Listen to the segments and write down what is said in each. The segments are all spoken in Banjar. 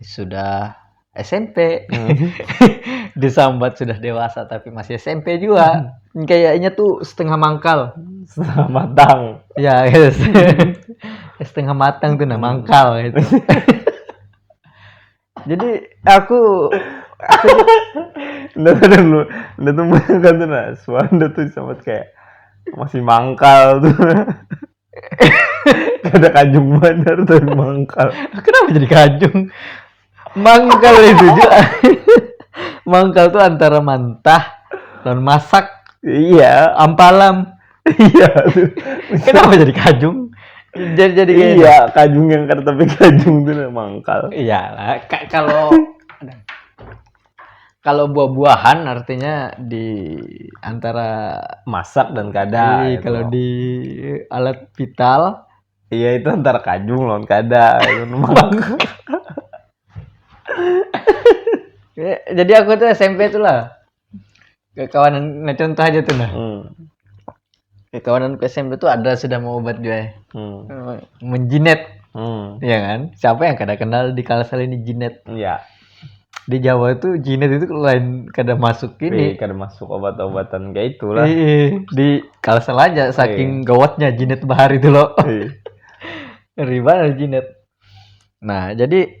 sudah smp disambat sudah dewasa tapi masih smp juga kayaknya tuh setengah mangkal setengah matang ya yes. setengah matang tuh nah mangkal itu jadi aku Nggak ada lu, nggak tuh banyak kan tuh nah, suara tuh sama kayak masih mangkal tuh. Kada kajung banar tuh mangkal. Kenapa jadi kajung? Mangkal itu juga. mangkal tuh antara mantah dan masak. Iya. Ampalam. Iya. Kenapa jadi kajung? Jadi jadi kayak Iya, kajung yang kata tapi kajung tuh mangkal. Iya lah. Kalau Kalau buah-buahan artinya di antara masak dan kada. Iya, kalau di alat vital. Iya itu antara kajung lawan kada. Jadi aku tuh SMP tuh lah. kekawanan nah contoh aja tuh nah hmm. kekawanan ke SMP tuh ada sudah mau obat juga ya hmm. Eh, menjinet hmm. ya kan siapa yang kada kenal di kalsel ini jinet ya di Jawa itu jinet itu lain kada masuk ini Wih, kada masuk obat-obatan kayak itulah Wih, di kalsel aja iya. saking Wih. gawatnya jinet bahari itu loh iya. ribet jinet nah jadi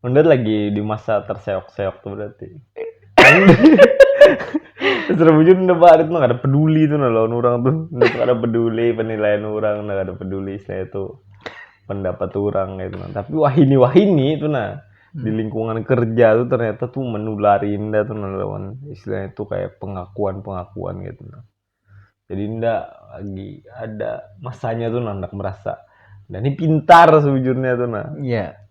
Unda lagi di masa terseok-seok tuh berarti. Secara bujur Unda barit mah ada peduli tuh nah lawan orang tuh. Unda tuh ada peduli penilaian orang, Unda ada peduli saya tuh pendapat orang gitu. Nah. Tapi wahini wahini itu nah hmm. di lingkungan kerja tuh ternyata tuh menulari Unda tuh nah lawan istilahnya tuh kayak pengakuan-pengakuan gitu nah. Jadi Unda lagi ada masanya tuh nah merasa dan ini pintar sejujurnya tuh nah. Iya. Yeah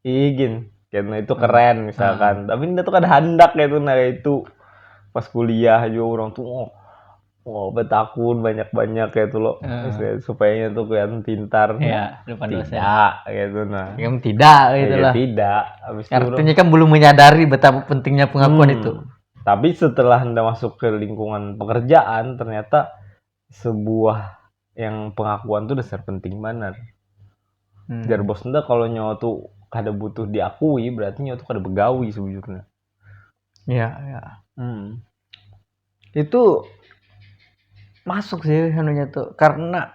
iigin kena itu keren misalkan tapi nda tuh kada handak kaitu nah kaitu pas kuliah jua urang tuh oh, oh betakun banyak banyak kaitu lo Ah. Maksudnya, supayanya tuh kelihatan pintar Iya, depan dosen. tidak kaitu nah Yang tidak Ya, gitu ya lah. tidak habis itu urang- Artinya kan belum menyadari betapa pentingnya pengakuan Hmm. itu. tapi setelah nda masuk ke lingkungan pekerjaan ternyata sebuah yang pengakuan tuh dasar penting banar hmm. jar bos nda kalau nyawa tuh kada butuh diakui berarti nyawa tuh kada begawi sebujurnya iya iya hmm. itu masuk sih anunya tuh karena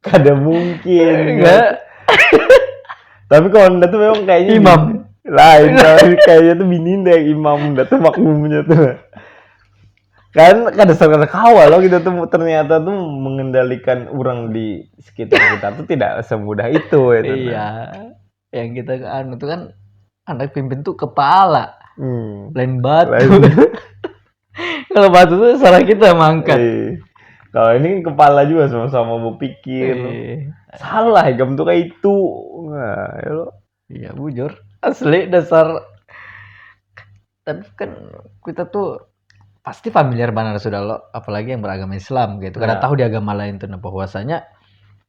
kada mungkin enggak tapi kalau anda tuh memang kayaknya imam lain kayaknya tuh bini deh imam anda tuh makmumnya tuh kan kada serta kawa loh kita tuh ternyata tuh mengendalikan orang di sekitar kita tuh tidak semudah itu ya iya yang kita anu tuh kan anak pimpin tuh kepala hmm. lain batu kalau batu tuh salah kita mangkat iya. kalau ini kan kepala juga sama-sama mau pikir iya. salah jam tuh kayak itu nah, ya lo iya bujur asli dasar tapi kan kita tuh pasti familiar banget sudah lo apalagi yang beragama Islam gitu karena ya. tahu di agama lain tuh nah bahwasanya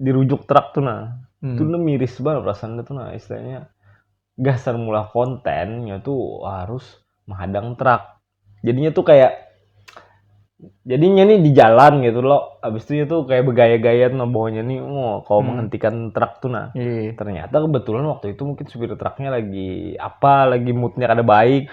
dirujuk truk tuh nah hmm. tuh miris banget perasaan tuh nah istilahnya gasan mula kontennya tuh harus menghadang truk jadinya tuh kayak jadinya nih di jalan gitu loh abis itu tuh kayak bergaya-gaya tuh nah, bawahnya nih oh, kalau hmm. menghentikan truk tuh nah yeah. ternyata kebetulan waktu itu mungkin supir truknya lagi apa lagi moodnya kada baik